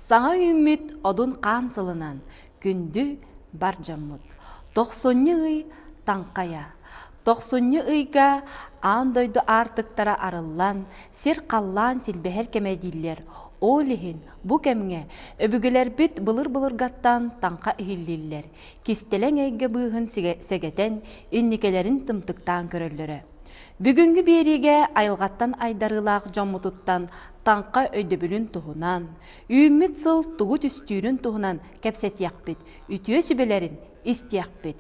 Саҥа үүммүт одун хаан сылынан күндү бар дьоммут, тохсунньу ый таҥхайа. Тохсунньу ыйга аан дойду аартыктара арыллан, сир халлаан силбэһэр кэмэ дииллэр. Ол иһин бу кэмҥэ өбүгэлэрбит былыр-былыргаттан таҥха иһиллиллэр. кистэлэҥ эйгэ быыһын сэгэтэн, инникилэрин тымтыктаан көрөллөрө. Бүгүҥҥү биэриигэ айылҕаттан айдарыылаах дьоммутуттан таҥха өйдөбүлүн туһунан, үүммүт сыл тугу түстүүрүн туһунан кэпсэтиэхпит, үтүө сүбэлэрин истиэхпит.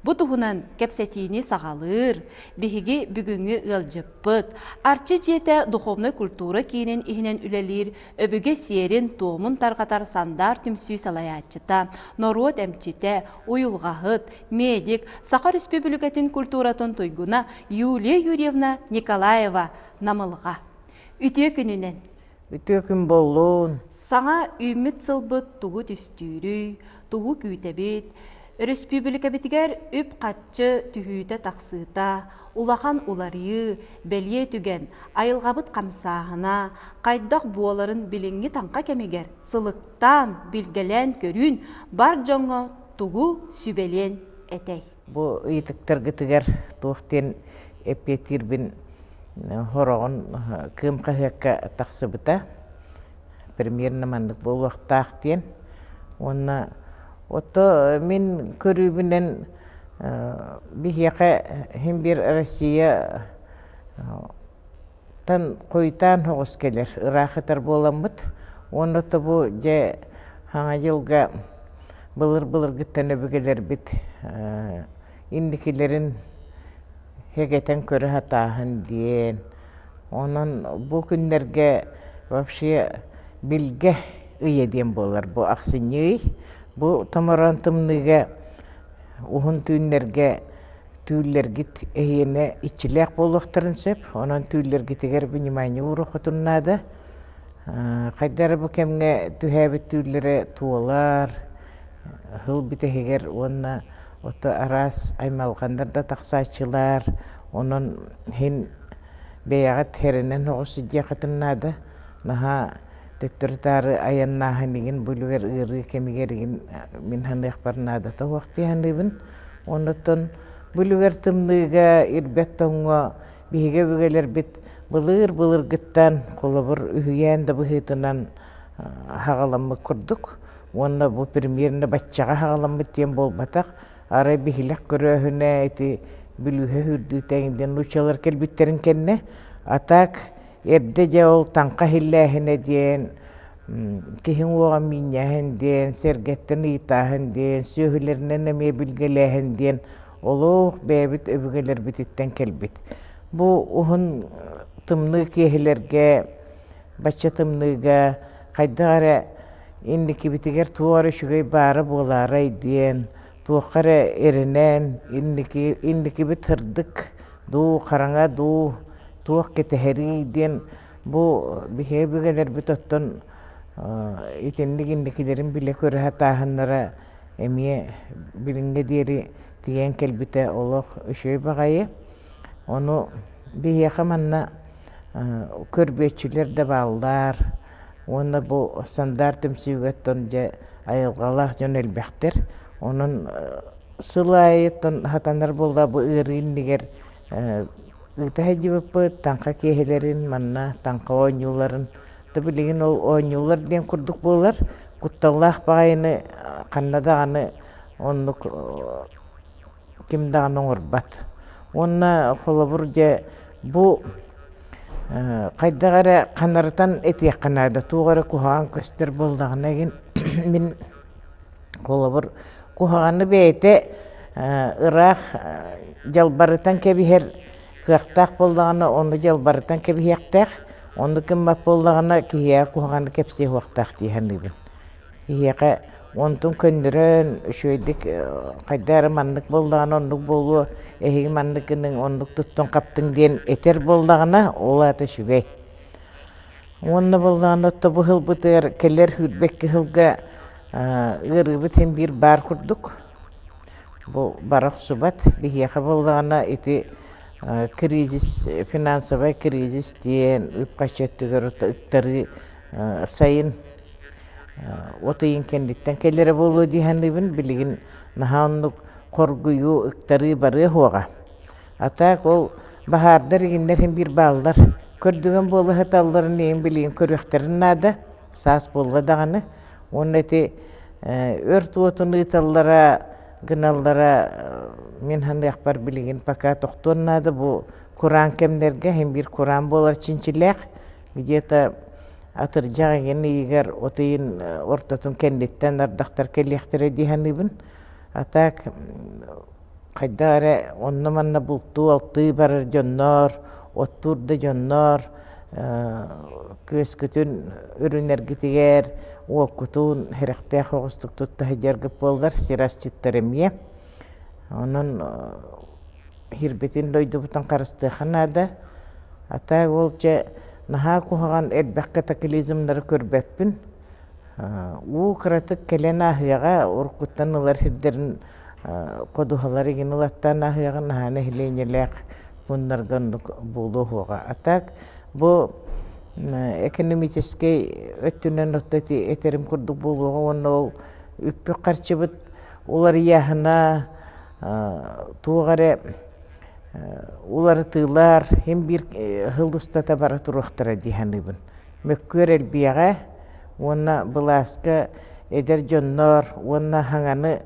Бу туһунан кэпсэтиини саҕалыыр биһиги бүгүҥҥү ыалдьыппыт, Арчы дьиэтэ духовной культура киинин иһинэн үлэлиир Өбүгэ сиэрин-туомун тарҕатар Сандаар түмсүү салайааччыта, норуот эмчитэ, уйулҕаһыт, медик, Саха Өрөспүүбүлүкэтин культуратын туйгуна Юлия Юрьевна Николаева Намылҕа. Үтүө күнүнэн! Үтүө күн буоллун! Саҥа үүммүт сылбыт тугу түстүүрүй? тугу күүтэбит, өрөспүүбүлүкэбитигэр үп-харчы түһүүтэ-тахсыыта, улахан уларыйыы, бэлиэ түгэн, айылҕабыт хамсааһына, хайдах буоларын билиҥҥи таҥха кэмигэр сылыктаан, билгэлээн көрүүн бар дьоҥҥо тугу сүбэлиэн этэй? Бу ыйытыктаргытыгар туох диэн эппиэттиирбин хороҕун кыым хаһыакка тахсыбыта премьерна маннык буолуохтаах диэн уонна ото мин көрүүбүнэн биһиэхэ син биир Россия тан Куйтаан һоҕус кэлэр, ыраах ытар буоламмыт уонна то бу дьэ Хаҥа дьылга былыр-былыргыттан өбүгэлэрбит инникилэрин һэгэтэн көрө һатааһын диэн. Онон бу күннэргэ вообще билгэ ыйа диэн буолар бу ахсынньы ый. Бу томороон тымныыга уһун түүннэргэ Түүллэргит эһиэнэ иччилээх буолуохтарын сөп. Онон түүллэргитигэр внимание ууруххутун наада. Хайдары бу кэмҥэ түһээбит түүллэрэ туолар, ыһыл бүтэһигэр уонна ото араас аймалҕаннар да тахсааччылар. Онон иһин бэйэҕит эрэнэн оҕус сидиэххитин наада. Наһаа төттөрү-таары айаннааһын игин бу үлүгэр ыарыы кэмигэр игин мин саныахпар наадата суох дии саныыбын. Онтон бүлүгэр тымныыга, ирбэт тоҥҥо биһиги өбүгэлэрбит былыыр-былыргыттан, холобур, үһүйээн да быһыытынан аһаҕаламмыт курдук уонна бу примерно баччаҕа аһаҕаламмыт диэн буолбатах. Арай биһилэх көрөөһүнэ ити бүлүүһэ үрдүүтэ эҥдэн нууччалар кэлбиттэрин кэннэ, а так эрдэ дьэ ол таҥха иһиллээһинэ диэн киһи уҥуоҕа миинньэһэн диэн, сэргэттэн ыйытааһын диэн, сүөһүлэринэн эмиэ билгэлээһин диэн олох бэйэбит өбүгэлэрбититтэн кэлбит. Бу уһун тымныы киэһэлэргэ, бачча тымныыга хайдах эрэ инникибитигэр туох эрэ үчүгэй баара буолаарай диэн, туохха эрэ эрэнэн инники инникибит сырдык дуу, хараҥа дуу, туох кэтэһэрий диэн Бу биһиги өбүгэлэрбит оттон итинник-инникилэрин билэ-көрө сатааһыннара эмиэ билиҥҥэ диэри тиийэн кэлбитэ олох үчүгэй баҕайы. Ону биһиэхэ манна көрбүөччүлэр да бааллар уонна бу стандарт түмсүүгэ дьэ айылҕалаах дьон элбэхтэр. Онон сыл аайыттан сатанар буолла бу ыарыы иннигэр ыыта сылдьыбыппыт таҥха киэһэлэрин манна таҥха оонньууларын то билигин ол оонньуулар диэн курдук буолар кутталлаах баҕайыны ханна даҕаны оннук ким даҕаны оҥорбот уонна холобур дьэ бу хайдах эрэ ханарытан этиэххэ наада туох эрэ куһаҕан көстөр буоллаҕына мин Холобур, куһаҕаны бэйэтэ ыраах дьалбарытан кэбиһэр кыахтаах буоллаҕына, ону дьалбарытан кэбиһиэхтээх, ону гыммат буоллаҕына, киһиэхэ куһаҕаны кэпсиэ суохтаах дии саныыбын. Киһиэхэ онтун көннөрөн, үчүгэйдик хайдах эрэ маннык буоллаҕына оннук буолуо, эһиги маннык гыныҥ, оннук туттуҥ-хаптыҥ диэн этэр буоллаҕына, ол аата үчүгэй. Уонна буоллаҕына отто бу сылбытыгар кэлэр үүрбэт кыһылга ыарыыбыт иһин биир баар курдук. Бу бара охсубат. Биһиэхэ буоллаҕына ити кризис, финансовай кризис диэн үп-харчы өттүгэр ыктарыы сайын от ыйын кэнниттэн кэлэрэ буолуо дии саныыбын. Билигин наһаа оннук хоргуйуу, ыктарыы барыа суоҕа. А так ол баһаардар игиннэрин биир бааллар. Көрдүгөн буола сыталларын ийин билигин көрүөхтэрин наада, саас буолла даҕаны. Уонна ити өрт уотун ыыталлара гыналлара мин ханыахпар билигин пока тохтуон наада бу кураан кэмнэргэ иһин биир кураан буолар чинчилээх где-то атырдьах игин ыйыгар от ыйын ортотун кэнниттэн ардахтар кэлиэхтэрэ дии саныыбын. А так хайдах эрэ онно-манна бултуу-алтыы барар дьонноор, оттуур да дьонноор, күөскүтүн үрүнэргитигэр уоккутун сэрэхтээх оҕустук тутта сылдьаргыт буоллар сир асчыттар эмиэ. Онон сирбитин дойдубутун харыстыаха наада. Атаа ол дьэ наһаа куһаҕан элбэх катаклизмнары көрбөппүн. уу кыратык кэлэн ааһыаҕа уруккуттан ылар сирдэрин ходуһалары игин ылаттан аһыаҕын наһаа нэһилиэнньэлээх пууннарга оннук буолуо уһуоҕа. А так бу экономическэй өттүнэн отто этэрим курдук буолуоҕа уонна ол үппүк харчыбыт уларыйаһына туох эрэ уларытыылар иһин биир сыл устата бара туруохтара дии саныыбын. мөккүөр элбиэҕэ уонна былааска эдэр дьонноор уонна хаҥаны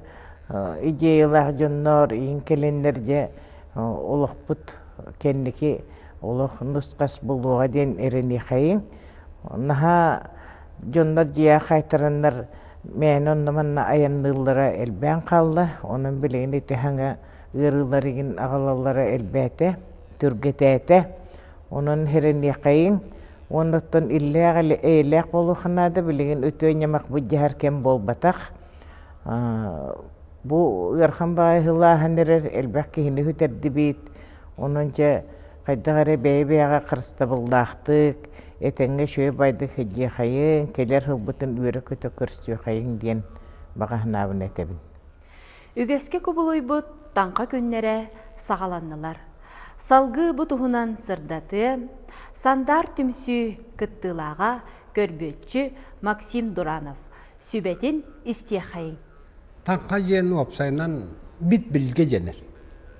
идеялаах дьонноор иһин кэлэннэр дьэ олохпут кэнники олох нус-хас буолуоҕа диэн эрэниэхэйиҥ наһаа дьоннор дьиэ хаайтараннар мээнэ онно манна айанныыллара элбээн хаалла онон билигин ити хаҥа ыарыылар игин аҕалаллара элбээтэ түргэтээтэ Онон иһэриниэххэйиҥ уонна оттон иллээх эйэлээх буолуохха наада билигин үтүө ньамах былдьаһар кэм буолбатах. Бу ыарахан баайыһылааһын эрэр элбэх киһини үтэрдибит. Онон дьэ хайдах эрэ бэйэ-бэйэҕэ харыстабыллаахтык этэҥҥэ үчүгэй-байдык сылдьыахайыҥ, кэлэр сылбытын үөрэ-көтө көрсүөхэйиҥ диэн баҕа санаабын этэбин. Үгэскэ кубулуйбут таҥха күннэрэ саҕаланнылар. Салгыы бу туһунан сырдатыы, Сандаар түмсүү кыттыылааҕа көрбүөччү Максим Дуранов сүбэтин истиэххэйиҥ. Таҥха диэн уопсайынан бит билгэ дэнэр.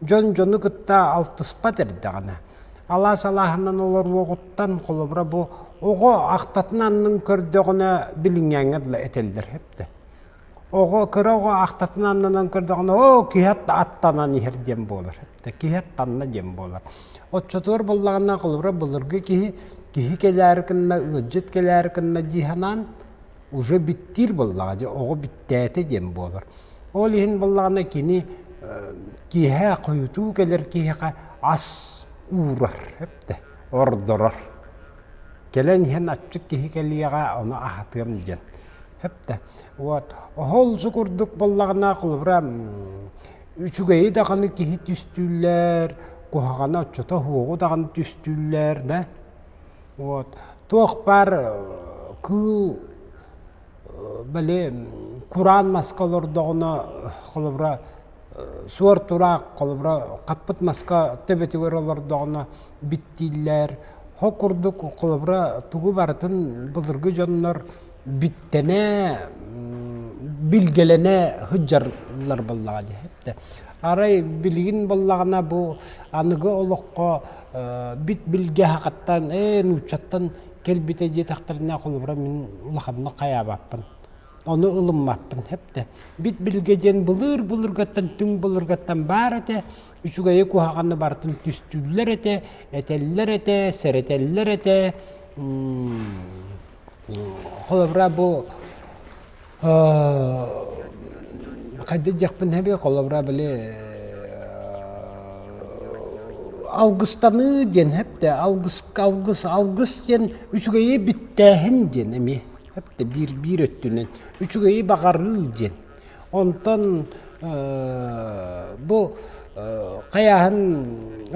дьон дьону кытта алтыспат эрдэҕинэ алаас алааһынан олоруоҕуттан холобура бу оҕо ахтатын аннын көрдөҕүнэ билиҥҥээҥҥэ дылы этэллэр эптэ оҕо кыра оҕо ахтатын аннынан көрдөҕүнэ оо киһи аттанан иһэр диэн буолар эптэ киһи аттанна диэн буолар оччотугар буоллаҕына холобура былыргы киһи киһи кэлээри кынна ыалдьыт кэлээри кынна дии санаан уже биттиир буоллаҕа дьэ оҕо бүттээтэ диэн буолар ол иһин буоллаҕына кини киэһэ хойутуу кэлэр киһиэхэ ас уурар эптэ ордорор кэлэн иһэн аччык киһи кэлиэҕэ ону аһатыам диэн эптэ вот оһол су курдук буоллаҕына холобура үчүгэйи даҕаны киһи түстүүллэр куһаҕана оччото оһуоҕу даҕаны түстүүллэр да Вот. Туох бар кыыл били кураан маска олордоҕуна холобура суор тураах холобура хаппыт маска төбөтүгэр олордоҕуна биттииллэр. Ол курдук холобура тугу барытын былыргы дьоннор биттэнэ билгэлэнэ сыдьаллар буоллаҕа дии эттэ арай билигин буоллаҕына бу аныгы олоххо бит билгэһэхэттэн ээ нууччаттан кэлбитэ диэтэхтэринэ холобура мин улаханнык хайаабаппын ону ылыммаппын эптэ бит билгэ диэн былыр былыргаттан түҥ былыргаттан баар этэ үчүгэйи куһаҕаны барытын түстүүллэр этэ этэллэр этэ сэрэтэллэр этэ холобура бу хайда диэхпин эбиэ холобура били алгыстаныы диэн эптэ алгыс алгыс алгыс диэн үчүгэйи бүттээһин диэн эми эптэ биир биир өттүнэн үчүгэйи баҕарыы диэн Онтон бу хайааһын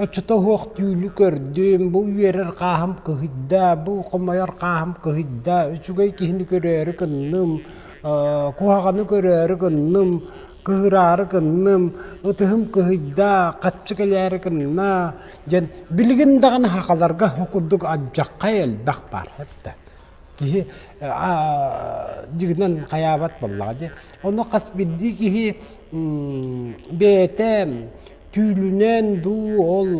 оччото суох түүлү көрдүм, бу үөрэр хааһым кыһыйда, бу хомойор хааһым кыһыйда, үчүгэй киһини көрөөрү гынным, куһаҕаны көрөөрү гынным, кыһыраары гынным, ытыһым кыһыйда, хаччы кэлээри гынна, диэн билигин даҕаны сахаларга курдук алдьархай элбэх баар. киһи дьигинэн хайаабат буоллаҕа дии. Ону хас бирдии киһи бэйэтэ түүлүнэн дуу ол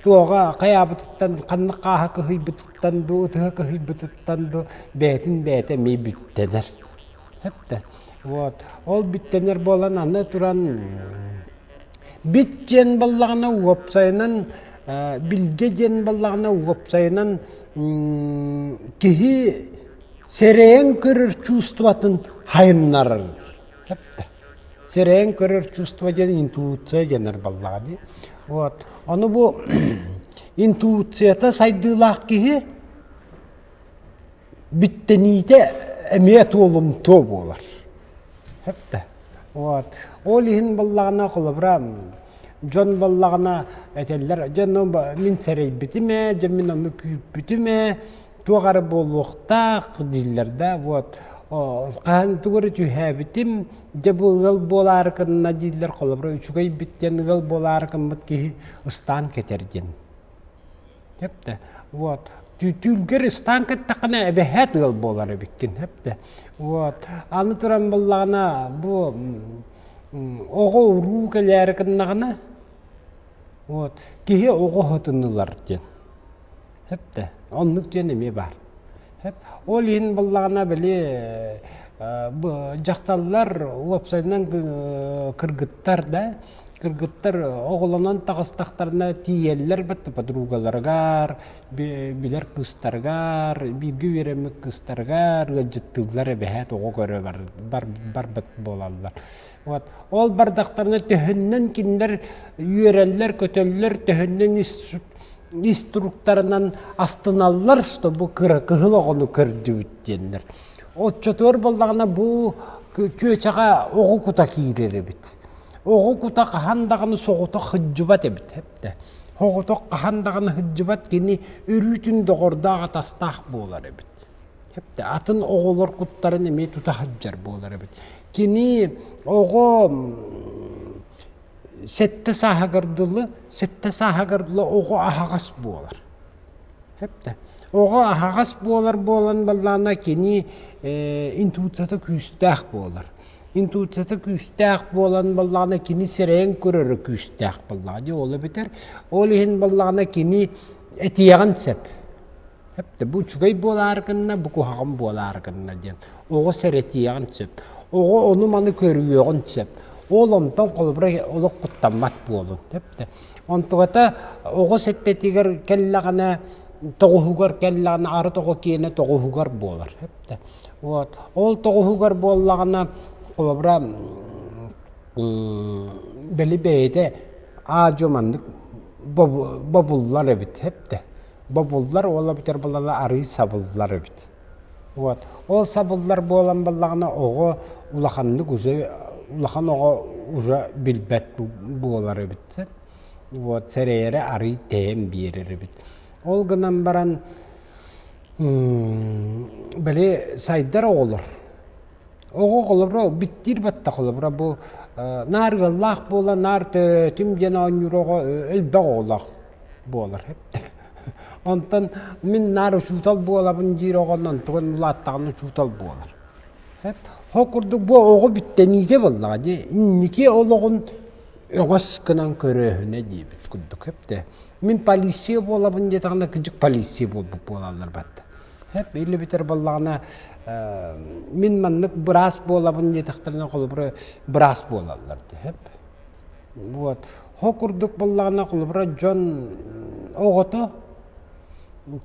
туоҕа хайаабытыттан ханнык хааһа кыһыйбытыттан дуу ытыһа кыһыйбытыттан дуу бэйэтин бэйэтэ эмиэ бүттэнэр. Сөп да. Вот. Ол бүттэнэр буолан аны туран Бит диэн баллаҕына уопсайынан билгэ диэн баллаҕына уопсайынан киһи сэрэйэн көрөр чувствотын хайыннарар. Сэрэйэн көрөр чувство диэн интуиция дэнэр баллаҕа дии. Вот. Ону бу интуицията сайдыылаах киһи Биттэниите эмиэ туолумтуо буолар. Хепте. Вот. Ол иһин баллагана холобура дьон баллагана этэллэр дьон мин сэрейбитиме, дьон мин ону күүппүтүме, туоҕары буолуохтаах дииллэр да вот хаһан тугары түһээбитим дьэ бу ыал буолаары кынна дииллэр холобура үчүгэй бит диэн ыал буолаары кыммыт киһи ыстаан кэтэр диэн Эптэ. Вот. Түүлгэр ыстаан кэттэххинэ эбэһээт ыал буолар эбиккин. Эптэ. Вот. Аны туран буллаҕына бу оҕо уруу кэлээри гыннаҕына вот киһи оҕо оһотун ылар диэн. Эптэ. Оннук диэн эмиэ баар. Ол иһин буллаҕына били дьахталлар уопсайынан кыргыттар да кыргыттар оҕолонон таҕыстахтарына тиийэллэр бэрт подругаларыгар билэр кыыстарыгар бииргэ үөрэммит кыыстарыгар ыалдьыттыыллар эбэһээт оҕо көрө барбыт буолаллар Вот. Ол бардахтарына төһөннөн кинилэр үөрэллэр, көтөллөр, төһөннөн инструкторынан астыналлар, что бу кыра кыһыл оҕону көрдүбүт диэннэр. Отчотуор боллагына бу чүөчэҕэ оҕу кута киирер эбит. Оҕу кута хаһан даҕаны соҕута хыддьыбат эбит эптэ. Хоҕотох хаһан даҕаны хыддьыбат кини өрүүтүн доҕордоох атастаах буолар эбит. Хепте атын оҕолор куттарын эмиэ тута сылдьар буолар эбит. Кини оҕо сэттэ сааһыгар дылы, сэттэ сааһыгар дылы оҕо аһаҕас буолар. Хепте. Оҕо аһаҕас буолар буолан баллаана кини э, интуицията күүстээх буолар. Интуицията күүстээх буолан баллаана кини сирэйин көрөрө күүстээх баллаана. Дьэ ол эбитэр. Ол иһин баллаана кини этиэҕин сөп. Эпте бу үчүгэй буолаары гынна, бу куһаҕан буолаары гынна диэн. Оҕо сэрэтиэҕин сөп. Оҕо ону-маны көрүүөҕүн сөп. Ол онтон холобура олох куттаммат буолун. Эпте онтугата оҕо сэттэтигэр кэллэҕинэ, тоҕуһугар кэллэҕинэ, арыт оҕо киэнэ тоҕуһугар буолар. Эпте вот ол тоҕуһугар буоллаҕына, холобура бэли бэйэтэ аа-дьуо маннык бобуллар эбит. Эпте бобуллар уола бүтэр балала арыый сабыллар эбит. Вот. Ол сабыллар буолан баллаҕына оҕо улаханнык уже улахан оҕо уже билбэт буолар эбит. Вот сэрэйэрэ арыый тэйэн биэрэр эбит. Ол гынан баран били сайдар оҕолор Оҕо холобура биттир батта холобура бу э, наар ыаллаах буола наар төтүм диэн оонньууроҕо элбэх оҕолоох буолар онтон мин наар учуутал буолабын диир оҕонон тугун улааттаҕына учуутал буолар ол курдук бу оҕо бүттэниитэ буоллаҕа дии инники олоҕун өҥөс гынан көрөөһүнэ диэбит курдук мин полиция буолабын диэтэҕинэ кыдьык полиция буолбут буолаллар бат Биллэ бүтэр боллаҕына мин маннык быраас буолабын диэтэхтэринэ холобура быраас буолаллар деп. Вот. Хо курдук боллаҕына холобура дьон оҕото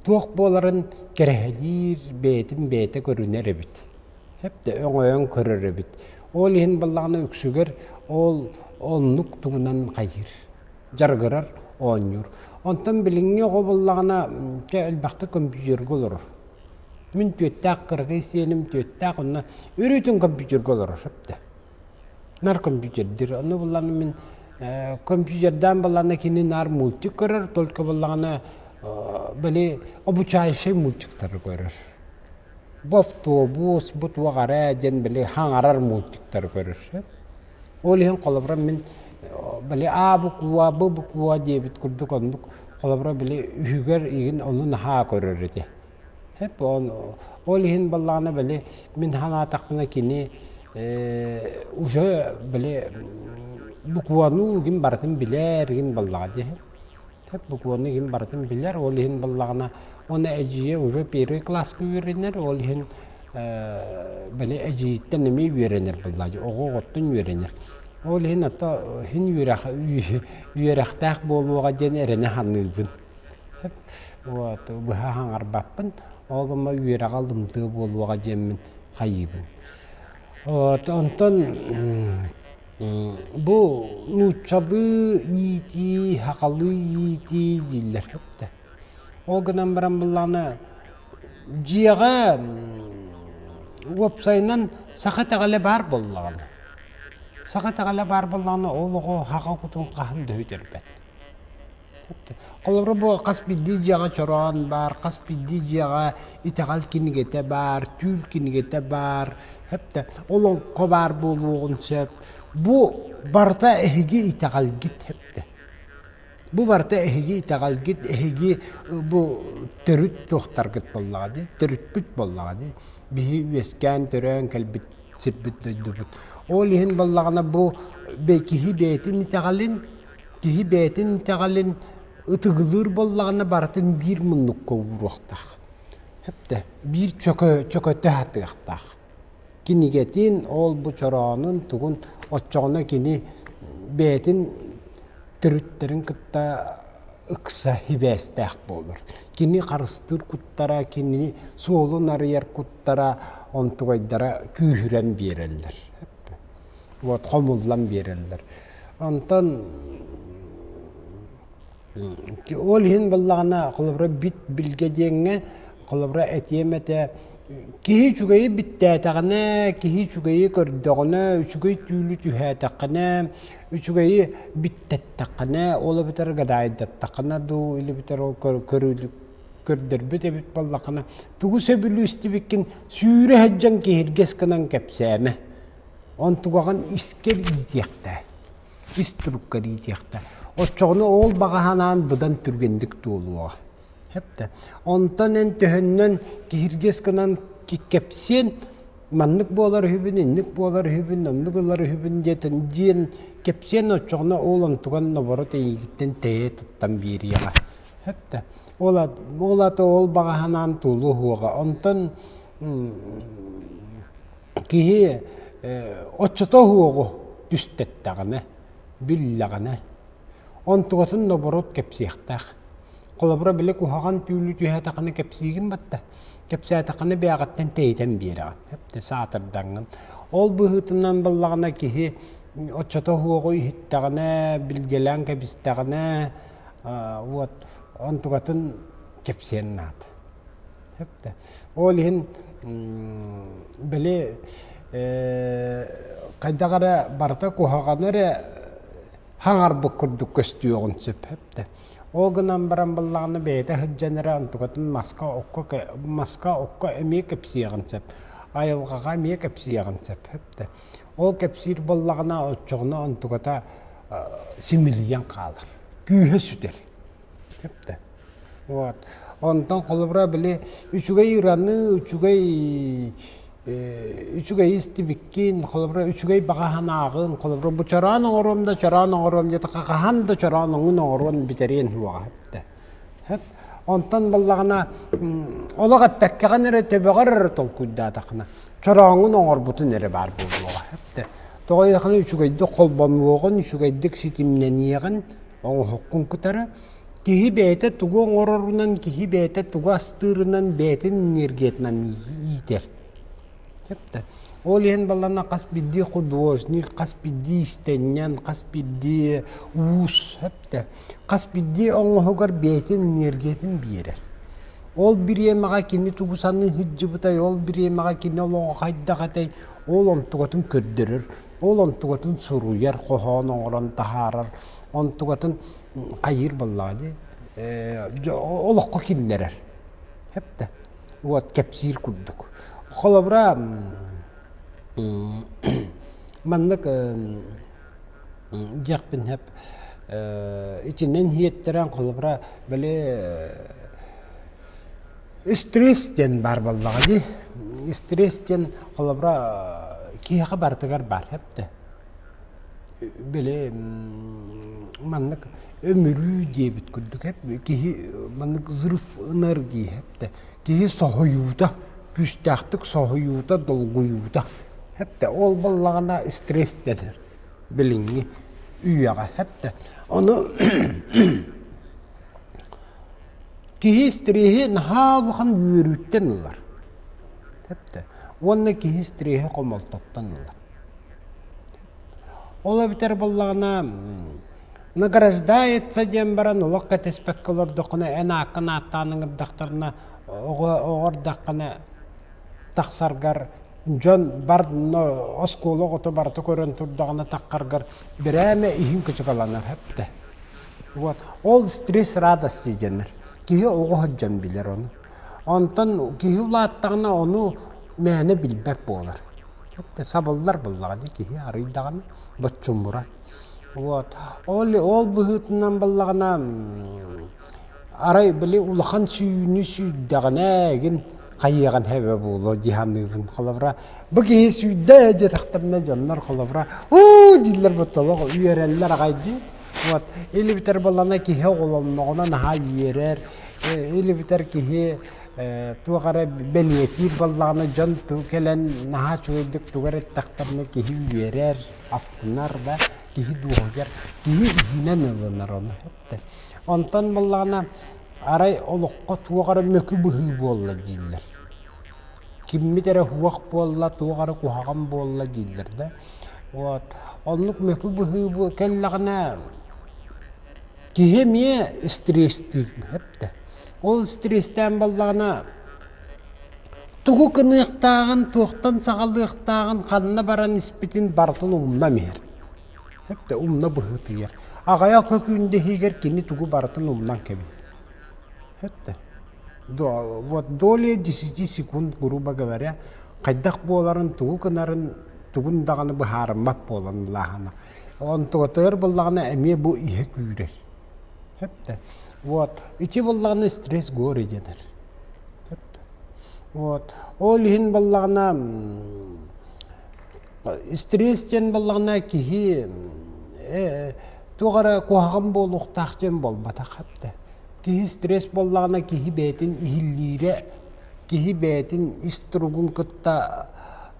туох буоларын кэрэһэлиир бэйэтин бэйэтэ көрүнэр эбит. Хепте өҥөйөн көрөр эбит. Ол иһин боллаҕына үксүгэр ол оннук тугунан хайыр. дьарыгырар, оонньуур. Онтон билиҥҥи оҕо буоллаҕына, чэ, элбэхтик компьютерга олорор. Мин түөртээх кыракый сиэним түөртээх онно үрүүтүн компьютерга олорор сөптө. Наар компьютердир. Ону буллаҕына мин э, компьютердаан буоллаҕына кини наар мультик көрөр, только буоллаҕына били обучающай мультиктары көрөр. Бу автобус, бу туох эрэ диэн били хаҥарар мультиктары көрөр. Ол иһин холобура мин били аа-букуа, бу-букуа диэбит курдук оннук холобура били үһүгэр игин ону наһаа көрөр ити. Эп ол иһин баллаҕана били мин санаатахпына кини уже били букуону игин барытын билэр игин баллаҕа дии. Сөп буквуонну иһин барытын билэр, ол иһин буллаҕына уонна эдьиийэ уже первый класска үөрэнэр, ол иһин били эдьиийиттэн эмиэ үөрэнэр булла оҕо оҕоттон үөрэнэр. Ол иһин ото иһин үөрэх үөрэхтээх буолуоҕа диэн эрэнэ саныыбын. Сөп вот быһа хаҥарбаппын, ол гымма үөрэҕэ лымтыа буолуоҕа диэммин хайыыбын. Вот онтон Бу нууччалыы иитии, сахалыы иитии дииллэргэ үктэ. Ол гынан баран буоллаҕына дьиэҕэ уопсайынан саха итэҕэлэ баар буоллаҕына саха итэҕэлэ баар буоллаҕына ол оҕо саха кутун хаһан да бүтэрбэт. Холобура бу хас биирдии дьиэҕэ чороон баар, хас биирдии дьиэҕэ итэҕэл кинигэтэ баар, түүл кинигэтэ баар, хэптэ олоҥхо баар буолуоҕун сөп. Бу барыта эһиги итэҕэлгит хэптэ. Бу барыта эһиги итэҕэлгит, эһиги бу төрүт туохтаргыт буоллаҕа дии, төрүппүт буоллаҕа дии. Биһи үөскээн, төрөөн кэлбит сирбит дойдубут. Ол иһин буоллаҕына бу киһи бэйэтин итэҕэлин Киһи бэйэтин итэҕэлин ытыгылыыр буоллаҕына барытын биир муннукка ууруохтаах. Хэптэ биир чөкө чөкөтө сатыахтаах. Кинигэтин ол-бу чороонун тугун оччоҕуна кини бэйэтин төрүттэрин кытта ыкса сибээстээх буолар. Кини харыстыыр куттара, кини суолун арыйар куттара онтугайдара күүһүрэн биэрэллэр. уотха умуллан биэрэллэр. Онтон ол иһин буллаҕына холобура бит билгэ диэҥҥэ холобура этиэм этэ киһи үчүгэйи биттээтэҕинэ киһи үчүгэйи көрдөҕүнэ үчүгэй түүлү түһээтэххинэ үчүгэйи биттэттэххинэ ол эбэтэр гадаайдаттаххына дуу или битэр ол көрөрбүт эбит буоллаххына тугу сөбүлүү истибиккин сүүрэ сылдьан киһиргэс гынан кэпсээмэ онтугаҕын искэр иитиэхтээ ис турукка иитиэхтээ оччоҕуна ол баҕаһынаан быдан түргэнник туолуоҕа Хэпте. Онтон эн төһөннөн киһиргэс гынан кэпсиэн маннык буолар үһүбүн, инник буолар үһүбүн, оннук ылар үһүбүн диэтин диэн кэпсиэн оччоҕуна ол онтуган ноборо тэйиигиттэн тэйэ туттан биэриэҕэ. Эптэ. Ол ол ата ол баҕаһынаан тулу уһуоҕа. Онтон киһи оччото уһуоҕу түстэхтэҕинэ, биллэҕинэ онтугатын нобуруот кэпсиэхтээх. Холобура били куһаҕан түүлү түһээтэххинэ кэпсиигин батта. Кэпсээтэххинэ бээҕиттэн тэйитэн биэрэҕин. Эптэ саатардаҥҥын. Ол быһыытынан буоллаҕына киһи оччото уһуоҕу иһиттэҕинэ, билгэлээн кэбистэҕинэ уот онтукатын кэпсиэн наада. Ол иһин били хайдах эрэ барыта куһаҕаны эрэ хаҥарбыт курдук көстүөҕүн сөп да. Ол гынан баран быллаҕына бэйэтэ сылдьан эрэ онтукатын маска маска окко эмиэ кэпсиэҕин сөп, айылҕаҕа эмиэ кэпсиэҕин сөп да. Ол кэпсиир буоллаҕына, оччоҕуна онтуката симилийэн хаалар, күүһэ сүтэр. Кепте. Вот. Онтон холобура били үчүгэй ыраны, үчүгэй үчүгэй истибиккин, холобура үчүгэй баҕаһынааҕын, холобура бу чороон оҥоруом да чороон оҥоруом диэте хаһан да чороон оҥун оҥоруон бүтэриэн уоҕа эптэ. Онтон баллаҕына олох эппэккэҕин эрэ төбөҕөр эрэ толкуйдаатаххына чорооҥҥун оҥорбутун эрэ баар буолуоҕа. Тоҕо диэтэххинэ үчүгэйдик холбонуоҕун, үчүгэйдик ситимнэниэҕин оҥоһуккун кытары киһи бэйэтэ тугу оҥорорунан, киһи бэйэтэ тугу астыырынан, бэйэтин энергиятынан иитэр. Ол иһин баллаҕана хас биирдии художник, хас биирдии иистэнньэн, хас биирдии уус Хас биирдии оҥоһугар бэйэтин энергиятын биэрэр. Ол бириэмэҕэ кини тугу саныы сылдьыбытай, ол бириэмэҕэ кини олоҕо хайдах этэй, ол онтугатын көрдөрөр, ол онтугатын суруйар, хоһоон оҥорон таһаарар, онтугатын хайыыр буоллаҕа дии. олоххо киллэрэр. Хэптэ. Вот кэпсиир курдук. Холобура маннык Диэхпин сөп итинэн иһиттэрэн холобура били стресс диэн баар буоллаҕа дии стресс диэн холобура киһиэхэ барытыгар баар сөп да били маннык өмүрүү диэбит курдук киһи маннык взрыв энергии сөп да киһи соһуйуута, күүстээхтик соһуйуута, долгуйуута. Хэптэ ол буоллаҕына стресстэнэр билиҥҥи үйэҕэ хэптэ. Ону киһи стресси наһаа улахан үөрүүттэн ылар. Хэптэ. Уонна киһи стресси хомолтоттон ылар. Ол эбитэр буоллаҕына награждается диэн баран олох кэтэспэккэ олордоххуна эн ааккын ааттаан ыҥырдахтарына оҕо эрдэххинэ тахсаргар дьон бар оскуола оҕото барыта көрөн турдаҕына таххаргар бирээмэ иһин кычыгаланар эптэ. Вот. Ол стресс радости диэннэр. Киһи оҕо сылдьан билэр ону. Онтон киһи улааттаҕына ону мээнэ билбэт буолар. сабыллар буоллаҕа дии киһи арыйдаҕына боччуммурар. Вот ол ол быһыытынан буоллаҕына арай били улахан сүүнү сүүрдэҕинэ ээгин хайыаҕын эбэ буолуо дии саныырын холобура бу киһи сүүрдэ диэтэхтэринэ дьоннор холобура уу дииллэр боттолох үөрэллэр аҕай дии вот или битэр буоллаҕына киһи оҕолонноҕуна наһаа үөрэр или битэр киһи туох эрэ бэлиэтиир буоллаҕына дьон кэлэн наһаа үчүгэйдик тугу эрэ эттэхтэринэ киһи үөрэр, астынар да киһи дуоһуйар, киһи иһинэн ылынар ону. Онтон буоллаҕына арай олоххо туох эрэ мөкү быһыы буолла дииллэр. Киммит эрэ уһуох буолла, туох эрэ куһаҕан буолла дииллэр да. Вот оннук мөкү быһыы кэллэҕинэ киһи эмиэ стресстиир. эттэ. Ол стрестээн баллаҕына тугу гыныахтааҕын, туохтан саҕалыахтааҕын, ханна баран испитин барытын умна иһэр. Эптэ умна быһыытыйар. Аҕайа көкүүндэһиигэр кини тугу барытын умнан кэбиһэр. Эттэ. Вот доля десяти секунд, грубо говоря, хайдах буоларын, тугу гынарын, тугун даҕаны быһаарыммат буолан улаахана. Онтугатыгар буллаҕына эмиэ бу иһэ күүрэр. Сөптө. Вот. Ити буллаҕына стресс гори дэнэр. Сөптө. Вот. Ол иһин баллаҕына стресс диэн баллаҕына киһи туох эрэ куһаҕан буолуохтаах диэн буолбатах эбитэ. Киһи стресс буоллаҕына киһи бэйэтин иһиллиирэ, киһи бэйэтин ис туругун кытта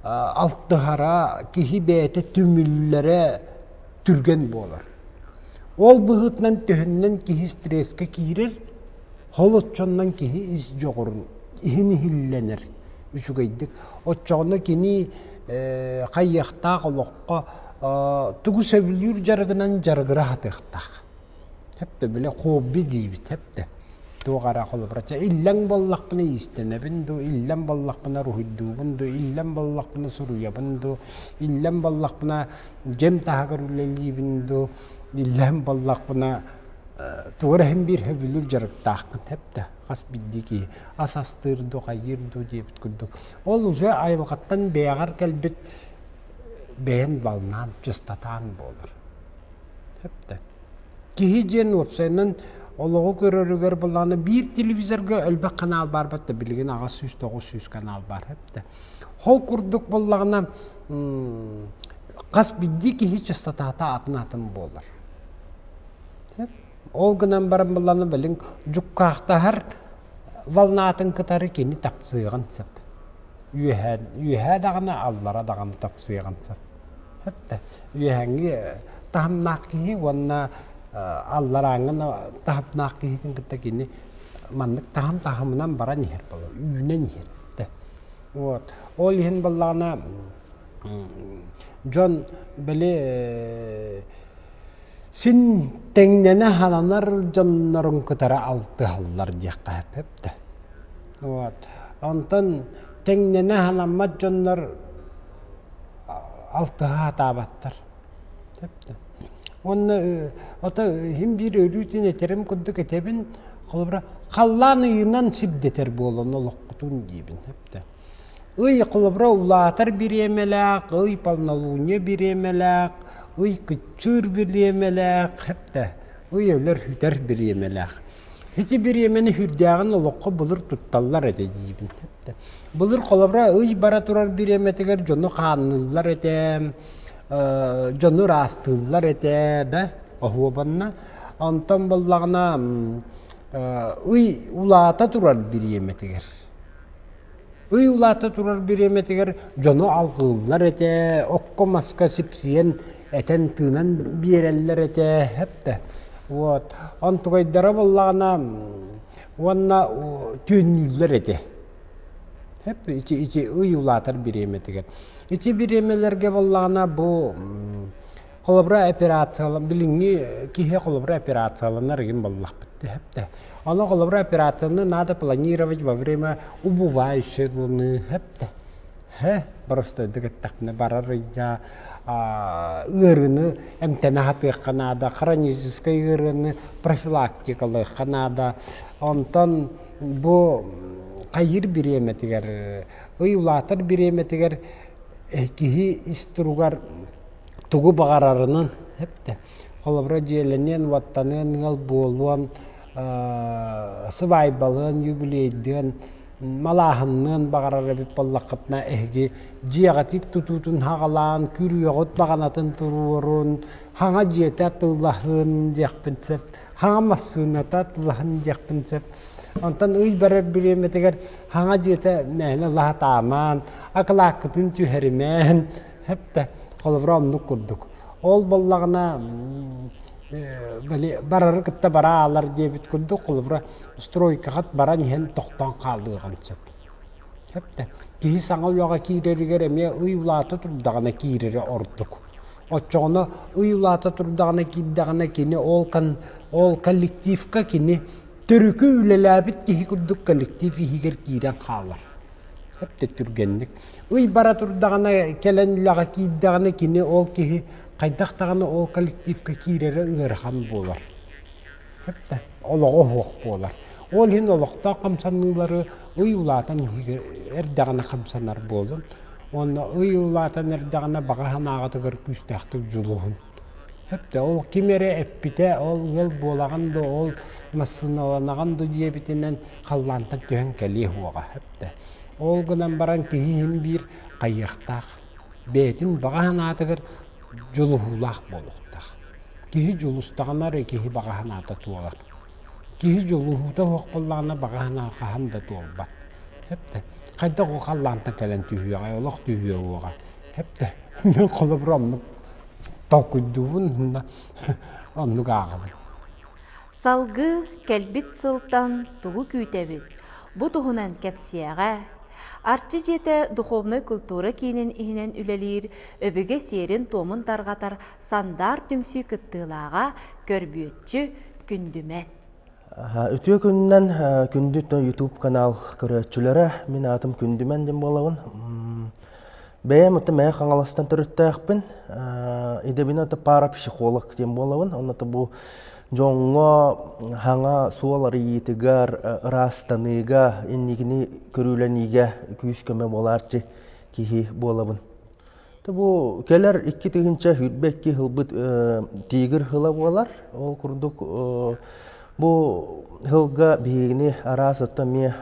алтыһара, киһи бэйэтэ түмүллэрэ түргэн буолар. Ол быһыытынан төһүннэн киһи стресске киирэр, холоччоннон киһи ис дьоҕурун иһин иһиллэнэр үчүгэйдик. Оччоҕуна кини э, хайыахтаах олоххо э, тугу сөбүлүүр дьарыгынан дьарыгыра сатыахтаах. Хэппэ били хобби диибит хэппэ. Туох эрэ холобура чэ иллэҥ буоллахпына иистэнэбин дуу, иллэҥ буоллахпына уруһуйдуубун дуу, иллэҥ буоллахпына суруйабын дуу, иллэҥ буоллахпына дьиэм таһыгар үлэлиибин дуу, иллэҥ буоллахпына тугу эрэ иһин биир сөбүлүүр дьарыктаахпын хэппэ хас биирдии киһи ас астыыр дуу хайыыр дуу диэбит курдук. Ол уже айылҕаттан бэйэҕэр кэлбит бэйэн балнаан, дьыстатаан буолар. Эптэ. Киһи диэн уопсайынан олоҕу көрөрүгэр былааны биир телевизорга өлбөх канал баарбат да билигин аҕыс сүүс тоҕус сүүс канал баар эптэ. Ол курдук буллаҕына хас биирдии киһи частотаата атын атын буолар. Ол гынан баран былааны билин дьуккаахтаһар волнатын кытары кини тапсыаҕын сөп. Үөһэ, үөһэ даҕаны аллара даҕаны тапсыаҕын сөп. Сөп да. Үөһэҥҥи таһымнаах киһи уонна алларааҥҥын таһымнаах киһитин кытта кини маннык таһым таһымынан баран иһэр буолар, үүнэн иһэр. Вот. Ол иһин буоллаҕына дьон били син тэҥнэнэ сананар дьоннорун кытары алтыһаллар диэххэ сөп да вот онтон тэҥнэнэ санаммат дьоннор алтыһа сатаабаттар сөп да уонна ото иһим биир өрүүтүн этэрим курдук этэбин холобура халлаан ыйынан сирдэтэр буолан олохпутун диибин сөп да Ый холобура улаатар бириэмэлээх, ый полнолуние бириэмэлээх, ый кыччыыр бириэмэлээх, хепте, ый өлөр-хүтэр бириэмэлээх. Ити бириэмэни үрдээҕин олоххо былыр тутталлар этэ диибин. Былыр холобура ый бара турар бириэмэтигэр дьону хаанныыллар этэ, дьону ыраастыыллар этэ да оһуобанна. Онтон буоллаҕына ый улаата турар бириэмэтигэр Ый улаата турар бириэмэтигэр дьону алҕыыллар этэ, окко-маска сипсийэн, этэн-тыынан биэрэллэр этэ, эптэ. Вот. Онтугайдара буоллаҕына уонна түүннүүллэр этэ. Эп ити ити ый улаатар бириэмэтигэр. Ити бириэмэлэргэ буоллаҕына бу холобура операциялар билинги киһи холобура операцияланар игин боллахпыт тэхепте аны холобура операцияны надо планировать во время убывающей луны хепте хе простойдук эттахне барар ия ыарыны эмтене хатыахха наада хроническай ыарыны профилактикалыахха наада онтон бу хайыр бириэмэтигэр ый улаатар бириэмэтигэр киһи ис туругар тугу баҕарарынан эптэ. Холобура, дьиэлэниэн, уоттаныан, ыал буолуон, сыбаайбалыан, юбилейдыан, малааһынныан баҕарар эбит буоллаххытына, эһиги дьиэҕитит тутуутун хаҕалаан, күрүөҕүт баҕанатын туруорун, хаҥа дьиэтэ атыылаһын диэхпин сөп, хаҥа массыыната атыылаһын диэхпин сөп. Онтон ый барар бириэмэтигэр хаҥа дьиэтэ мээнэ лаһытаамаан, акылааккытын түһэримээн, Хэппэ, холобура оннук курдук. Ол буоллаҕына барары кытта бара аалар диэбит курдук, холобура, стройкаҕыт баран иһэн тохтоон хаалыаҕын сөп. Хэппэ, киһи саҥа үлэҕэ киирэригэр эмиэ ый улаата турдаҕына киирэрэ ордук. Оччоҕуна ый улаата турдаҕына киирдэҕинэ кини ол коллективка кини Төрүкү үлэлээбит киһи курдук коллектив иһигэр киирэн хаалар. Эп да түргэнник. Ый бара турдаҕына, кэлэн үлэҕэ киирдэҕинэ, кини ол киһи хайдах даҕаны ол коллективка киирэрэ ыарахан буолар. Эп да олоҕо оһуох буолар. Ол иһин олохтоох хамсаныылары ый улаатан иһигэр эрдэҕинэ хамсанар буолун. Уонна ый улаатан эрдэҕинэ баҕа санааҕытыгар күүстээхтик дьулуһун. ол ким эрэ эппитэ ол ыал буолаҕын да ол массыыналанаҕын да диэбитинэн халлаантан түһэн кэлиэх уоҕа эптэ ол гынан баран киһи иһин биир хайыастаах бэйэтин баҕа санаатыгар дьулуһуулаах буолуохтаах киһи дьулустаҕына эрэ киһи баҕа санаата туолар Киһи дьулуһуута суох буоллаҕына баҕаһынаан хаһан да туолбат. Эп да хайдах ол халлаантан кэлэн түһүөҕэй, олох түһүөҕүөҕэ. Эп да мин холобура оннук толкуйдуубун уонна оннук ааҕабын. Салгыы кэлбит сылтан тугу күүтэбит? Бу туһунан кэпсиэҕэ. Арчы дьиэтэ духовнай культура киинин иһинэн үлэлиир Өбүгэ сиэрин-туомун тарҕатар Сандаар түмсүү кыттыылааҕа, көрбүөччү, күндүмэт. Үтүө күнүнэн күндү YouTube канал көрөөччүлэрэ, мин аатым Күндүмэн дим буолабын. Бэйэм отто Мэйэ Хаҥаластан төрүттээхпин. Идэбин ото парапсихолог диэн буолабын. Онно бу дьоҥҥо хаҥа суол арыйыытыгар, ыраастаныыга, инникини көрүүлэниигэ күүс-көмө буолаарчы киһи буолабын. бу кэлэр икки тыһыынча сүүрбэ икки һылбыт тигр һыла буолар ол курдук бу һылга биһигини араас отто эмиэ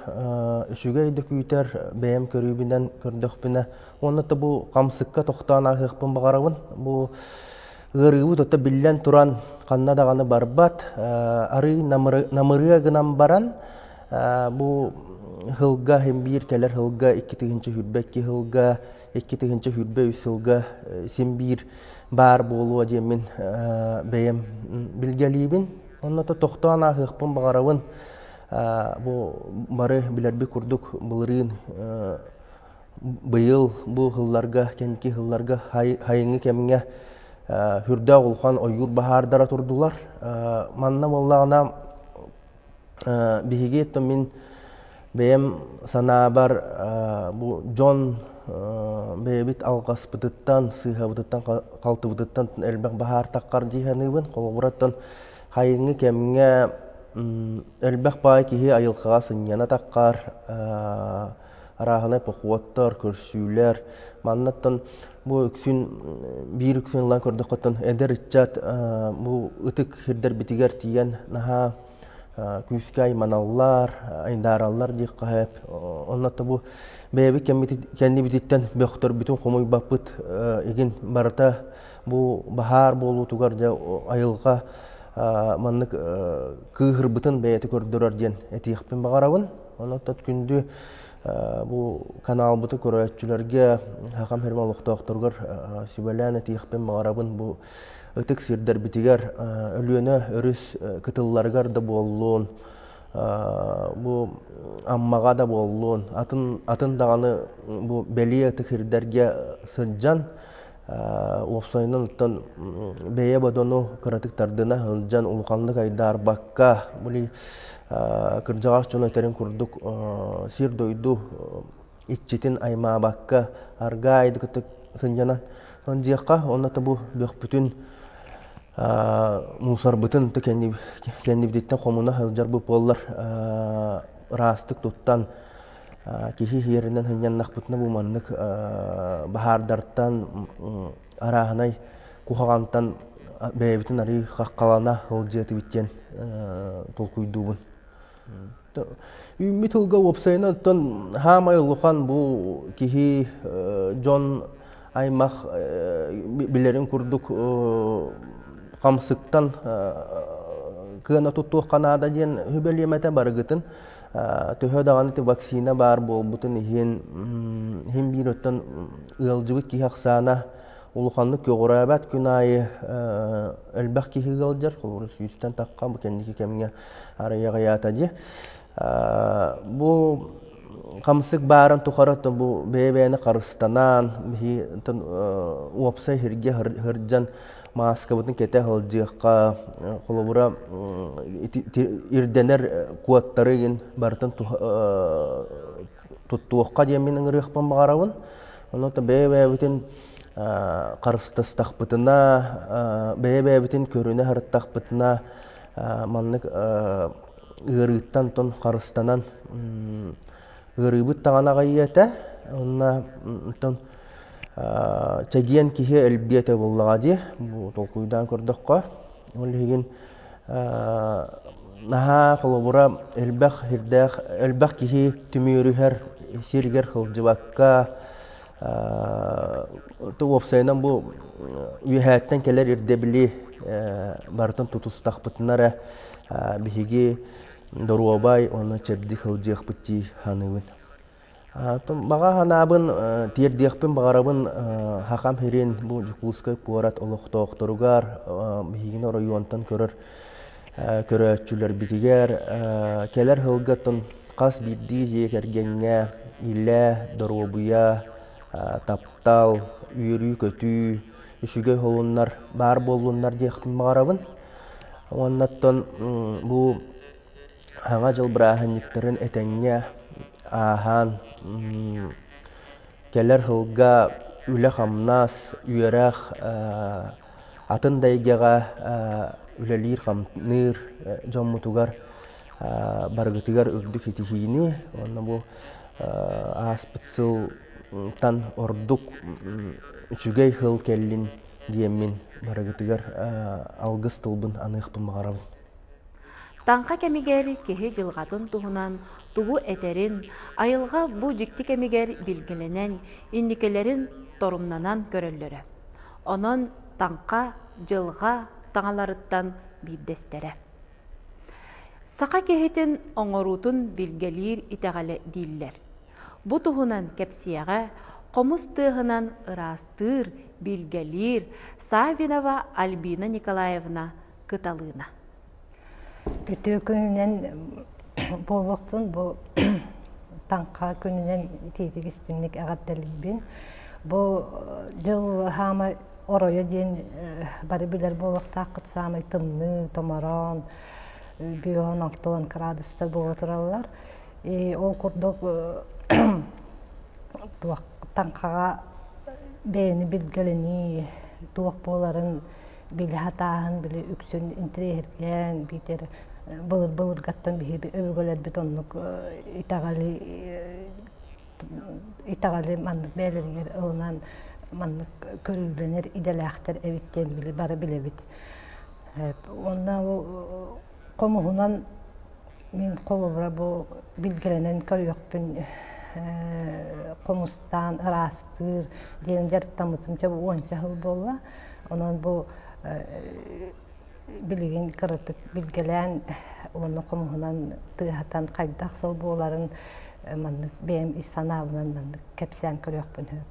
үчүгэй да күүтэр бэйэм көрүүбүнэн көрдөхпүнэ уонна да бу хамсыкка тохтоон аһыахпын баҕарабын бу ыарыыбыт отто биллэн туран ханна даҕаны барбат арыый намырыа гынан баран бу һылга һин биир кэлэр һылга икки тыһыынча сүүрбэ икки һылга икки тыһыынча сүүрбэ үс сылга син биир баар буолуо диэммин бэйэм билгэлиибин онно тохтоон ааһыахпын баҕарабын бу бары билэрбит курдук былырыын быйыл бу сылларга кэнники сылларга хайыҥы кэмҥэ үрдээх улахан ойуур баһаардара турдулар манна буоллаҕына Биһиги то мин бэйэм санаабар бу дьон бэйэбит алҕаспытыттан, сыыһабытыттан, халтыбытыттан элбэх баһаартаххар дии саныыбын. Холобура, оттон хайыҥҥы кэмҥэ элбэх баай киһи айылҕаҕа сынньана таххар арааһынай похуоттар, көрсүүлэр. Маннаттан бу үксүн биир үксүн ылан көрдөххөттөн эдэр ыччат бу ытык сирдэрбитигэр тиийэн наһаа күүскэ айманаллар, айдаараллар диэххэ Оннотто бу бэйэбит кэннибититтэн бөхтөрбүтүн хомуйбаппыт игин барыта бу баһаар буолуутугар дьэ айылҕа маннык кыыһырбытын бэйэти көрдөрөр диэн этиэхпин баҕарабын. Онуттан күндү бу каналбыты көрөөччүлэргэ хахам херма олохтоохторугар сүбэлээн этиэхпин баҕарабын бу ытык сирдэрбитигэр Өлүөнэ өрүс кытылларыгар да буоллун бу Аммаҕа да буоллун атын атын даҕаны бу бэлиэ ытык сирдэргэ сылдьан уопсайынан оттон бэйэ бодону кыратык тардына сылдьан улаханнык айдаарбакка били кырдьаҕас дьоно этэрин курдук сир-дойду иччитин аймаабакка аргаа айды кытта сынньанан дьиэххэ онно та бу бөхпүтүн мусорбытын то кэннибититтэн хомуна сылдьар бу буоллар ыраастык туттан киһи иһиэринэн сынньаннахпытына бу маннык баһаардартан арааһынай куһаҕантан бэйэбитин арыый хаххалана сылдьыа этибит диэн толкуйдуубун. Үүммүт тылга уопсайынан оттон саамай улахан бу киһи дьон аймах билэрин курдук хамсыктан кыана туттуохха наада диэн сүбэлиэм этэ барыгытын төһө даҕаны ити вакцина баар буолбутун иһин иһин биир оттон ыалдьыбыт киһи ахсаана улаханнык көҕүрээбэт күн аайы элбэх киһи ыалдьар холобура сүүстэн тахха бу кэнники кэмҥэ арыйаҕыйаата дии Бу хамсык баарын тухары бу бэйэ-бэйэни харыстанаан, уопсай иһиргэ сылдьан мааскабытын кэтэ сылдьыахха, холобура, ирдэнэр куоттары игин барытын туттуохха диэн мин ыҥырыахпын баҕарабын. Ону то бэйэ-бэйэбитин харыстастахпытына, бэйэ-бэйэбитин көрүнэ сырыттахпытына маннык ыарыыттан тон харыстанан ыарыыбыт даҕаны аҕыйыы этэ уонна оттон чэгиэн киһи элбиэ этэ буоллаҕа дии бу толкуйдаан көрдөххө ол иһигин наһаа холобура элбэх сирдээх элбэх киһи түмүөрүһэр сиригэр сылдьыбакка уопсайынан бу үөһээттэн кэлэр ирдэбили барытын тутустахпытына эрэ биһиги доруобай уонна чэбдик сылдьыахпыт дии саныыбын. Баҕа санаабын тиэрдиэхпин баҕарабын Хахам Хирин бу Дьокуускай куорат олохтоохторугар биһигини оройуонтан көрөр көрөөччүлэрбитигэр кэлэр сылгытын хас биирдии дьиэ кэргэҥҥэ илэ, доруобуйа, таптал, үөрүү-көтүү, үчүгэй холуннар баар буоллуннар диэхпин баҕарабын. Уоннаттан бу Саҥа дьыл бырааһынньыктарын этэҥҥэ ааһан кэлэр сылга үлэ-хамнас, үөрэх атын да эйгэҕэ үлэлиир-хамныыр дьоммутугар барыгытыгар үрдүк итиһиини уонна бу ааспыт сылтан ордук үчүгэй сыл кэллин диэммин барыгытыгар алгыс тылбын аныахпын баҕарабын Таҥха кэмигэр киһи дьылҕатын туһунан тугу этэрин, айылҕа бу дьикти кэмигэр билгилэнэн, инникилэрин торумнанан көрөллөрө. Онон таҥха, дьылҕа таҥаларыттан биирдэстэрэ. Саха киһитин оҥоруутун билгэлиир итэҕэлэ дииллэр. Бу туһунан кэпсиэҕэ хомус тыаһынан ыраастыыр, билгэлиир Саввинова Альбина Николаевна Кыталыына. Үтүө күнүнэн буолуохтун бу таҥха күнүнэн итиитик истиҥник эҕэрдэлиибин. Бу дьыл хаама оройо диэн бары билэр буолуохтааххыт саамай тымныы, томороон, бүүһүн охтуон кыраадыстар буола тураллар. И ол курдук туох таҥхаҕа бэйэни билгэлэнии туох буоларын били сатааһын били үксүн интириэһиргээн биитэр былыр былыргаттан биһиги өбүгэлэрбит оннук итэҕэли итэҕэли маннык бэйэлэригэр ылынан маннык көрүүлэнэр идэлээхтэр эбит диэн били бары билэбит уонна хомуһунан Мин холобура бу билгилэнэн көрүөхпүн хомустаан ыраастыыр диэн дьарыктаммытым чэ уонча сыл буолла. Онон бу билигин кыратык билгэлээн уонна хомуһунан тыаһатан хайдах сыл буоларын маннык бэйэм ис санаабынан маннык кэпсээн көрүөхпүн сөп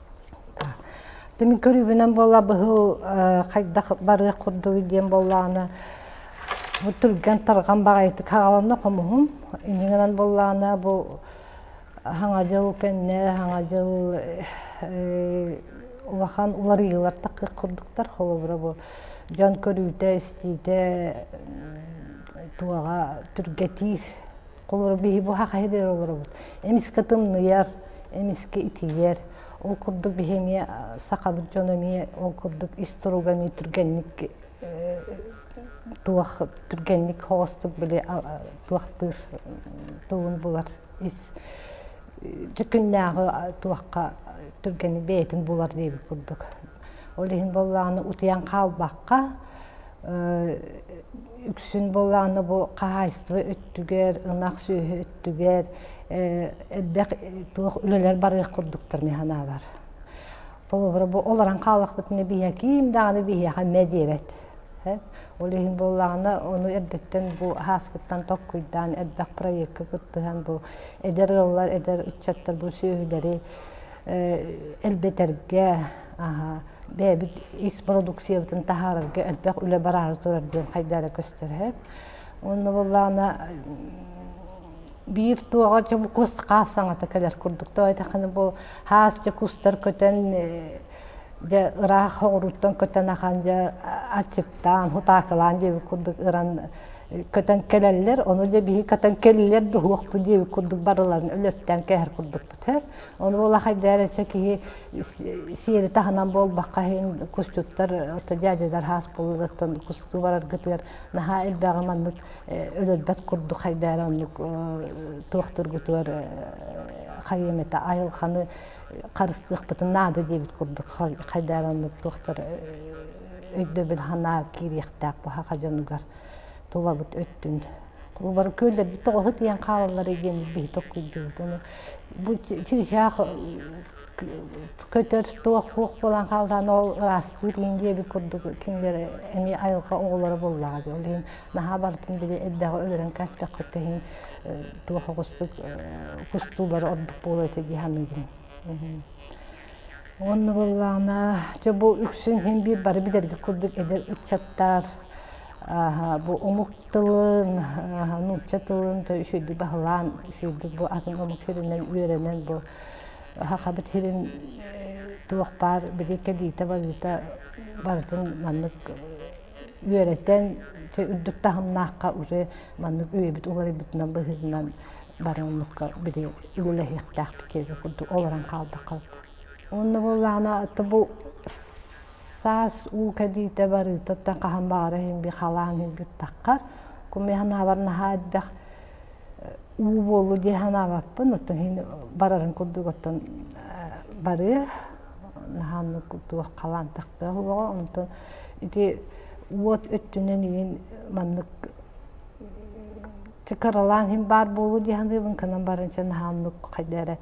Тимин көрүүбүнэн буола быһыл хайдах барыах курдук диэн буоллааны түргэн тарҕан баҕайытык хааланна хомуһум. Инигинэн буоллаана бу хаҥа дьыл кэнне хаҥа дьыл улахан уларыйыылар таккык курдуктар холобура бу дьон көрүүтэ истиитэ туоҕа түргэтиир Холору биһи бу хахайдыр олорубут. Эмискэ тымныйар, эмискэ итийэр. Ол курдук биһи эмиэ сахабыт дьон эмиэ ол курдук ис туруга эмиэ түргэнник туох түргэнник хоостук били туохтыыр тугун булар ис күннээҕи туохха түргэни бэйэтин булар диэбит курдук Ол иһин боллааны утуйан хаалбакка, үксүн боллааны бу хаһаайыстыба өттүгэр, ынах сүөһү өттүгэр элбэх туох үлэлэр барыах курдуктар механаалар. Холобура бу олорон хаалахпытына биһиэхэ ким даҕаны биһиэхэ мэ диэбэт. Ол иһин буоллаҕына ону эрдэттэн бу хааскыттан токкуйдаан элбэх проекка кыттыһан бу эдэр ыаллар, эдэр ыччаттар бу сүөһүлэри элбэтэргэ, бэйэбит икс продукциябытын таһаарарга элбэх үлэ бараары турар диэн хайда эрэ көстөрөһөр. Онно боллаана биир туоҕа кус хаас саҥата кэлэр курдук тойдаханы бу хаасча кустар көтөн дьэ ыраах оҕуруттан көтөн ахан дьэ аччыктаан хутаакылаан диэбит курдук ыран көтөн кэлэллэр, ону дьэ биһи көтөн кэллилэр дуһуохту диэбит курдук барыларын өлөптөөн кэһэр курдук көтөр. Ол улахайдар эче киһи сиэри таһынан буолбакка иһин кустуктар отто дядядар хаас булугаттан кусту бараргытыгар наһаа элбэҕи маннык өлөрбөт курдук хайдаар оннук туохтургутугар хайымета айылханы харыстыахпытын наада диэбит курдук хайдаар оннук туохтар өйдөбүл ханаа киириэхтээх буһаха дьонугар тулабыт өттүн Олар көйлөрбүт тоҕоһут ийэн хаалаллары диэн биһи токкуйдубут. Ону бу чыычаах көтөр туох хуох буолан хаалдаан ол ыраастыыр иин диэбит курдук кинилэр эмиэ айылҕа оҕолоро буоллаҕа дии. Ол иһин наһаа барытын били элбэҕи өлөрөн кэстэххэ иһин туох оҕустук кустуулар ордук буолуо этэ дии саныыбын. Уонна буоллаҕына, дьэ бу үксүн иһин биир бары билэрбит курдук эдэр ыччаттар бу омук тылын, нуучча тылын үчүгэйдик баһылаан, үчүгэйдик бу атын омук сиринэн үөрэнэн бу Сахабыт сирин туох баар били кэлиитэ-балыыта барытын маннык үөрэтэн, үрдүк таһымнаахха уже маннык үөйбүт уларыйбытынан быһыытынан бары омукка били үлэлэһиэхтээхпит киһи курдук олорон хаалбаккабыт. Онно буоллаҕына бу саас уу кэлиитэ барыыта оттон хаһан баҕара иһин би халаан иһбиттаххар куми санаабар наһаа элбэх уу буоллу дии санаабаппын оттон иһин барарын курдук оттон барыы наһаан туох халаан тахтыах боҕо онтон ити уот өттүнэн иин маннык Чэ, кыралаан иһин баар буолуу дии саныыбын, кынан барынча наһааммыт хайда эрэ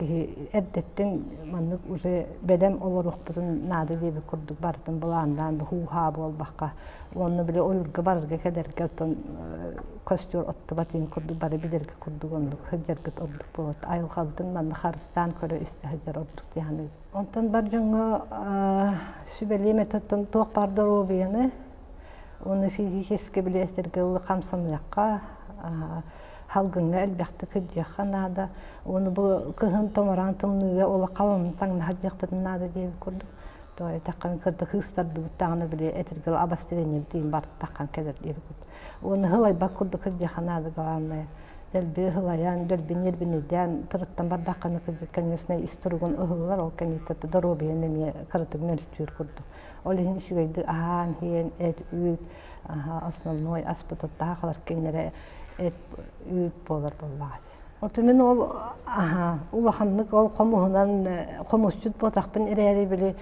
киһи эрдэттин маннык уже бэлэм олоруохпутун наада диэбит курдук барытын былааннаан быһууһаа буолбакка уонна били ойурга барарга кэлэргэ оттон көстөр оттубат ин курдук бары билэргэ курдук оннук сылдьаргыт ордук буолат айылҕабытын манна харыстаан көрө истэ сылдьар ордук диһаны онтон бар дьоҥҥо сүбэлиэм этэ оттон туох баар доруобуйаны Оны физически билиэстэргэ ылы хамсаныахха, халгыҥҥа элбэхтик күрдиэххэ наада. Оны бу кыһын томораан тымныыга ола халын таҥнаһар диэхпитин наада диэбит курдук. Тоҕо эттэххин кырда кыыстардыбыт даҕаны били этэргэл абастырениябытын бартаххан кэлэр диэбит. Оны хылайбат курдук күрдиэххэ наада главное. Дэлби хылайан, дэлби нервинэйдээн тырыттан бардаххына, конечно, ис туругун ыһыллар, ол кэнниттэн доруобуйаны эмиэ кыратык нөлтүүр курдук. Ол иһин үчүгэйдик аһаан иһиэн, эт, үүт, основной аспытыттаах халар кинилэри эт, үүт буолар буоллаҕа. Отумин ол улаханнык ол хомуһунан хомусчут буотахпын эрээри били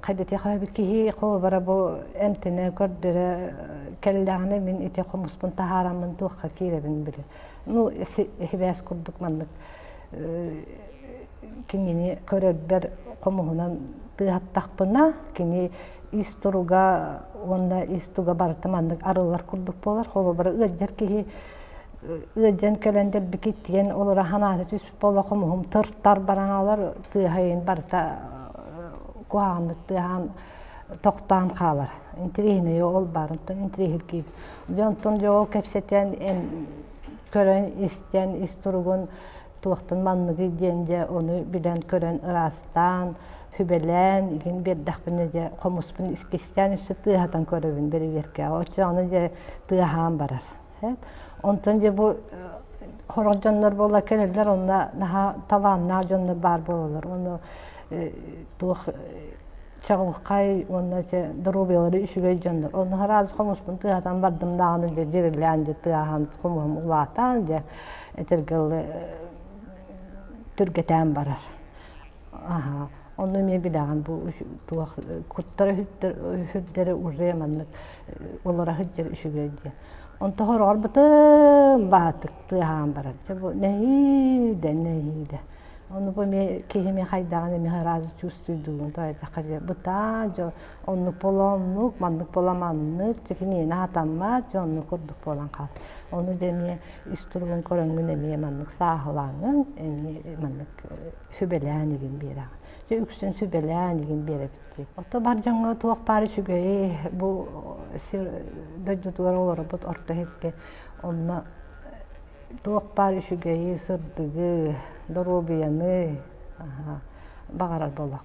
қайдати хабы киһи холбара бу эмтене көрдөрө келлааны мин ити хомуспун тахаараммын туохха кииребин били Ну, эһибээс курдук маннык кинини көрөрбөр хомуһунан тыаһаттахпына, кини ис туруга уонна ис туга барыта маннык арыллар курдук буолар. Холобура, ыалдьар киһи ыалдьан кэлэн дэлбики тиген олора ханаата түс бола хомуһум тыртар бараналар тыаһайын барыта куһааннык тыаһаан тохтоон хаалар интириэһинэйэ ол баарынтан интириэһиргиир дьэ онтон дьэ ол кэпсэтэн көрөн истэн ис туругун туохтан манныгый диэн дьэ ону билэн көрөн ыраастаан сүбэлээн игин биэрдэхпинэ дьэ хомуспун искистээн үссе тыаһатан көрөбүн бэрэбиэркээҕэ оччоҕуна дьэ тыаһаан барар Онтон дьэ бу хорох дьоннор буола кэлэллэр онно наһаа талааннаах дьоннор баар буолалар. Ону туох чаҕылхай уонна доруобуйалары үчүгэй дьоннор. Ону харааз хомуспун тыаһатан бардым даҕаны дьэ дьирилээн дьэ тыаһан хомуһум улаатаан дьэ этэргэ тиргэтään барар. Аха, ону эмиэ билэҕин бу туох куттара үһүрдэрэ уже маннык олора сылдьар үчүгэй диэн. Онто хороорбутум баатыктыы аһаан барар. Чэ бу нэһиидэ, нэһиидэ. Ону бу эмиэ киһими хайдаҕын эмиэ араас чувствуйдугун тайзахха дьэ бытаа дьо оннук болоннук, маннык бола маннык, чекиниэни атаммат дьо оннук курдук буолан хаал. Ону дэ эмиэ үс туругун көрөҥҥүн эмиэ маннык сааһылааҥҥын эмиэ маннык сүбэлээн игин биэрэҕэ. Үксүн сүбэлээн игин биэрэбитти. Ото бар дьоҥҥо туох баары үчүгэйи бу сир дойдутугар олорбут орто иһикке онно туох баар үчүгэйи, сырдыгы, доруобуйаны баҕарар буоллах.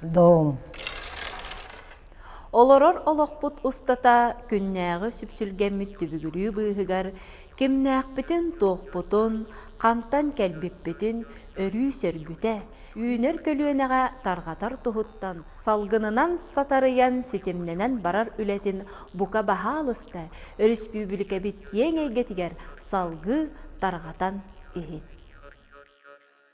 Доом. Олорор олохпут устата күннээҕи сүпсүлгэммит түбүгүрүү быыһыгар кимнээхпитин-туохпутун, хантан кэлбиппитин өрүү сөргүтэ, үүнэр көлүөнэҕэ тарҕатар туһуттан салгынынан сатарыйан ситимнэнэн барар үлэтин бука баһаалыста өрөспүүбүлүкэбит киэҥ эйгэтигэр салгыы тарҕатан иһин.